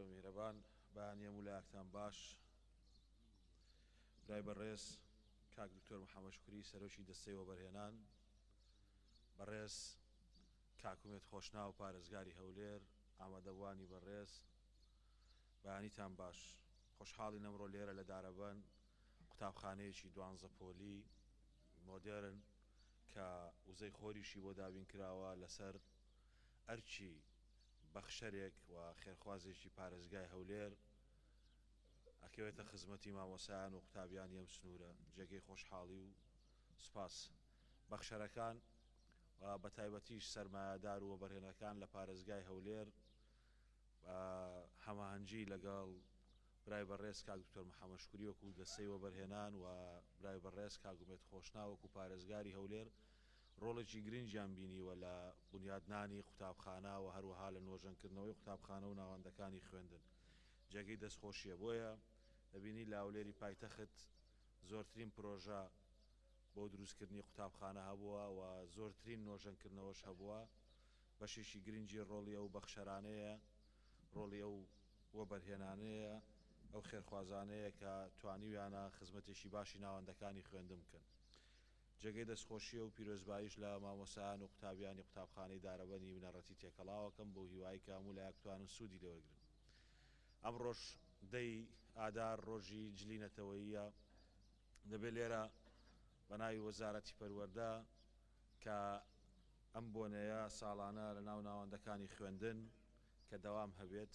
میهرەبان بەیانیە مولایەکتان باش برای بەڕێز کاک دکتۆر محەممەد شکری سەرۆکی دەستەی وەبەرهێنان بەڕێز کاکومێت خۆشناو پارێزگاری هەولێر ئامادەبوانی بەڕێز بەیانیتان باش خۆشحاڵی نەمڕۆ لێرە لە دارەبەن قوتابخانەیەکی دوانزە پۆلی مۆدێرن کە وزەی خۆریشی بۆ دابین کراوە لەسەر ئەرچی بەخشەرێک و خێرخوازێکی پارێزگای هەولێر ئەکەوێتە خزمەتی مامۆسایان و قوتابیانی ئەم سنوورە جێگەی خۆشحاڵی و سوپاس بەخشەرەکان و بە تایبەتیش سەرمایەدار و وەبەرهێنەکان لە پارێزگای هەولێر هەماهەنگی لەگەڵ برای بەڕێز کاک دکتۆر محەممەد شکوری وەکو دەستەی وەبەرهێنان و برای بەڕێز کاگومێت خۆشناوەکو پارێزگاری هەولێر ڕۆڵێکی گرنگیان بینیوە لە بونیادنانی قوتابخانە و هەروەها لە نۆژەنکردنەوەی قوتابخانە و ناوەندەکانی خوێندن جێگەی دەستخۆشیە بۆیە دەبینی لە هەولێری پایتەخت زۆرترین پرۆژە بۆ دروستکردنی قوتابخانە هەبووە و زۆرترین نۆژەنکردنەوەش هەبووە بەشێکی گرنگی ڕۆڵی ئەو بەخشەرانەیە ڕۆڵی ئەو وەبەرهێنانەیە ئەو خێرخوازانەیە کە توانیویانە خزمەتێکی باشی ناوەندەکانی خوێندن بکەن. جێگەی دەستخۆشییە و پیرۆزباییش لە مامۆستایان و قوتابیانی قوتابخانەی دارەبەنی بنەڕەتی تێکەڵاو ئەکەم بۆ هیوایی کە هەموو لایەک بتوانن سوودی لێوەرگرن. ئەمڕۆش دەی ئادار ڕۆژی جلی نەتەوەییە دەبێ لێرە بە ناوی وەزارەتی پەروەردە کە ئەم بۆنەیە ساڵانە لە ناو ناوەندەکانی خوێندن کە دەوام هەبێت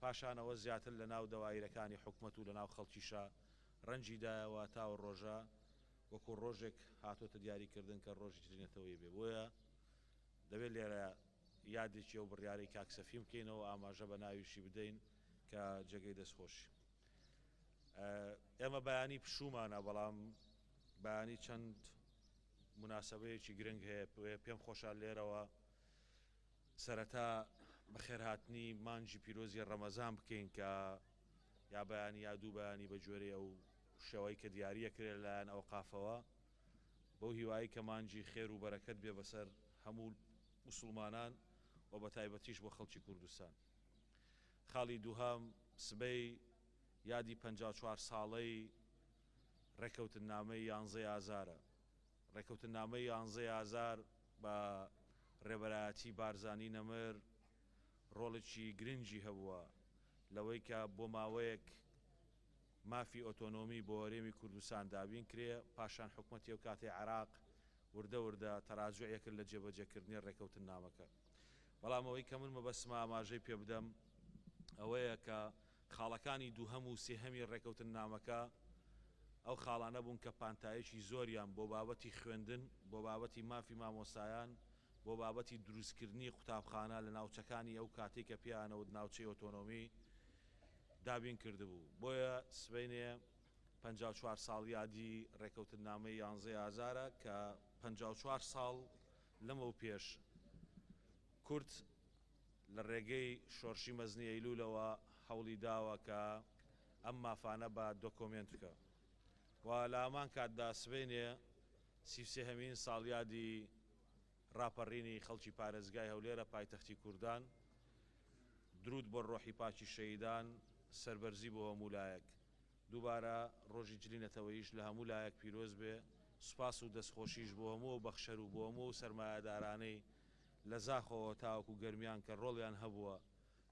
پاشان ئەوە زیاتر لە ناو دەوایرەکانی حکومەت و لە ناو خەڵکیشا رەنجی دایەوە تا و رۆژە وەکو رۆژێک هاتۆتە دیاری کردن کە رۆژی تری نەتەوەیی بێ بۆیە دەبێ لێرە یادێکی ئەو بریارەی کاک سەفین بکەینەوە ئاماژە بە ناویشی بدەین کە جێگەی دەست خۆشی ئێمە بەیانی پشومانە بەڵام بەیانی چەند مناسبەیەکی گرنگ هەیە پێم خۆشە لێرەوە سەرەتا بەخێرهاتنی مانگی پیرۆزی ڕەمەزان بکەین کە یا بەیانی یا دوو بەیانی بە گوێرەی ئەو شێوەی کە دیاریە کرێ لەلایەن ئەو قافەوە بەو هیوایی کە مانگی خێر و بەرەکەت بێ بەسەر هەموو موسڵمانان و بە تایبەتیش بۆ خەڵکی کوردستان. خاڵی دووهەم سبەی یادی پەنجا و چوار ساڵەی ڕێکەوتننامەی یانزەی ئازارە. ڕێکەوتننامەی یانزەی ئازار بە ڕێبەرایەتی بارزانی نەمر ڕۆڵێکی گرنگی هەبووە لەوەی کە بۆ ماوەیەک مافی ئۆتۆنۆمی بۆ هەرێمی کوردستان دابین کرێ، پاشان حکومەتی ئەو کاتەی عێراق وردە وردە تەراجوعی کرد لە جێبەجێ کردنی ڕێکەوتننامەکە. بەڵام ئەوەی کە من مەبەستمە ئاماژەی پێ بدەم ئەوەیە کە خاڵەکانی دووهەم و سێهەمی ڕێکەوتننامەکە ئەو خاڵانە بوون کە پانتاییەکی زۆریان بۆ بابەتی خوێندن، بۆ بابەتی مافی مامۆستایان، بۆ بابەتی دروستکردنی قوتابخانە لە ناوچەکانی ئەو کاتەی کە پێیانەوت ناوچەی ئۆتۆنۆمی، دابین کردبوو. بۆیە سبەینێ پەنجا و چوار ساڵ یادی ڕێکەوتننامەی یانزەی ئازارە کە پەنجا و چوار ساڵ لەمەوپێش کورد لە ڕێگەی شۆڕشی مەزنی ئەیلوولەوە هەوڵی داوە کە ئەم مافانە بە دۆکۆمێنت بکە و لە هەمان کاتدا سبەینێ سی و سێ هەمین ساڵیادی ڕاپەڕینی خەڵکی پارێزگای هەولێرە پایتەختی کوردان دروود بۆ ڕۆحی پاکی شەهیدان سەربەرزی بۆ هەموو لایەک دووبارە ڕۆژی جلی نەتەوەییش لە هەموو لایەک پیرۆز بێ سوپاس و دەستخۆشیش بۆ هەموو ئەو بەخشەر و بۆ هەموو ئەو سەرمایەدارانەی لە زاخۆوە تاوەکو گەرمیان کە ڕۆڵیان هەبووە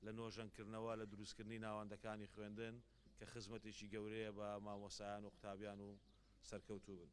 لە نۆژەنکردنەوە لە دروستکردنی ناوەندەکانی خوێندن کە خزمەتێکی گەورەیە بە مامۆستایان و قوتابیان و سەرکەوتووبن.